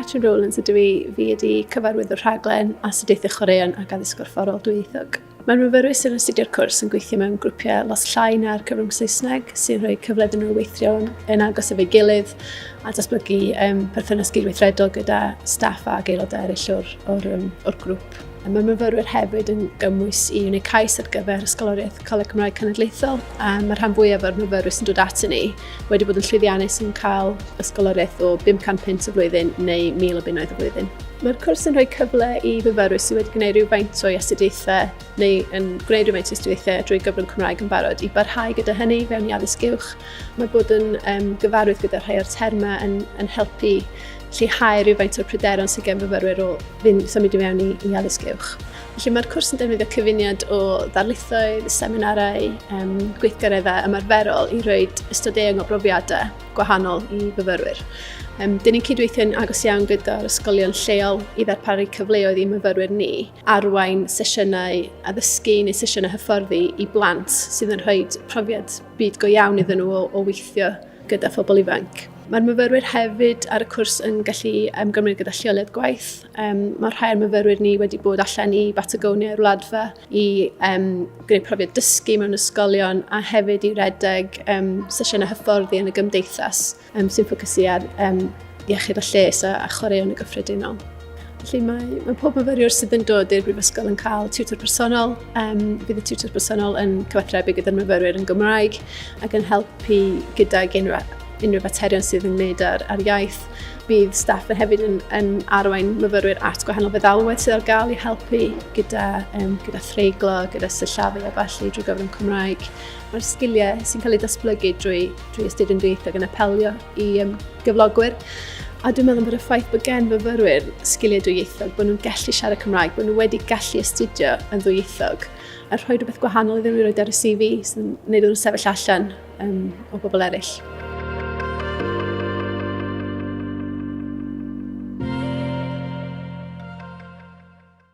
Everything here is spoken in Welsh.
Catrin Rowlands ydw i, fi ydi cyfarwyddwr rhaglen Astudiaethau Chwaraeon ac Addysg Gorfforol Dwyieithog. Mae'r myfyrwyr sy'n astudio'r cwrs yn gweithio mewn grwpiau lot llai na'r cyfrwng Saesneg sy'n rhoi cyfle iddyn nhw weithio yn agos efo'i gilydd a datblygu um, perthynas gydweithredol gyda staff a aelodau eraill o'r, or, um, or grŵp. Mae myfyrwyr hefyd yn gymwys i wneud cais ar gyfer Ysgoloriaeth Coleg Cymraeg Cenedlaethol a mae rhan fwyaf o'r myfyrwyr sy'n dod at ni wedi bod yn llwyddiannus yn cael ysgoloriaeth o 500 punt y flwyddyn neu 1000 o bunnoedd y flwyddyn. Mae'r cwrs yn rhoi cyfle i fyfyrwyr sydd wedi gwneud rhywfaint o'i astudiaethau neu yn gwneud rhywfaint o'i astudiaethau drwy gyfrwng Cymraeg yn barod i barhau gyda hynny fewn i addysg uwch. Mae bod yn um, gyfarwydd gyda rhai o'r termau yn, yn helpu lleihau rhywfaint o'r pryderon sydd gen fyfyrwyr o fynd symud i mewn i, i addysg uwch. Felly mae'r cwrs yn defnyddio cyfuniad o ddarlithoedd, seminarau, um, gweithgareddau ymarferol i roi ystod eang o brofiadau gwahanol i fyfyrwyr. Um, dyn ni'n cydweithio'n agos iawn gyda'r ysgolion lleol i ddarparu cyfleoedd i myfyrwyr ni arwain sesiynau addysgu neu sesiynau hyfforddi i blant sydd yn rhoi profiad byd go iawn iddyn nhw o, o weithio gyda phobl ifanc. Mae'r myfyrwyr hefyd ar y cwrs yn gallu ymgymryd gyda lleoliad gwaith. Um, mae rhai o'r myfyrwyr ni wedi bod allan i Batagonia i'r wladfa i um, gwneud profiad dysgu mewn ysgolion a hefyd i redeg um, sesiynau hyfforddi yn y gymdeithas um, sy'n ffocysu ar um, iechyd a lles a, a chwaraeon y gyffredinol. Felly mae, mae pob myfyriwr sydd yn dod i'r Brifysgol yn cael tiwtor personol. Um, bydd y tiwtor personol yn cyfathrebu gyda'r myfyrwyr yn Gymraeg ac yn helpu gydag unrhyw, unrhyw faterion sydd yn wneud ar, ar iaith. Bydd staff yn hefyd yn, yn arwain myfyrwyr at gwahanol feddalwedd sydd ar gael i helpu gyda, um, gyda threiglo, gyda syllafu a falle drwy gyfrwng Cymraeg. Mae'r sgiliau sy'n cael eu datblygu drwy Dwi ystod yn rhywbeth yn apelio i um, gyflogwyr. A dwi'n meddwl bod y ffaith bod gen fyfyrwyr sgiliau dwyieithog, bod nhw'n gallu siarad Cymraeg, bod nhw wedi gallu astudio yn ddwyieithog, a rhoi rhywbeth gwahanol iddyn nhw i roi ar y CV sy'n gwneud nhw'n sefyll allan um, o bobl eraill.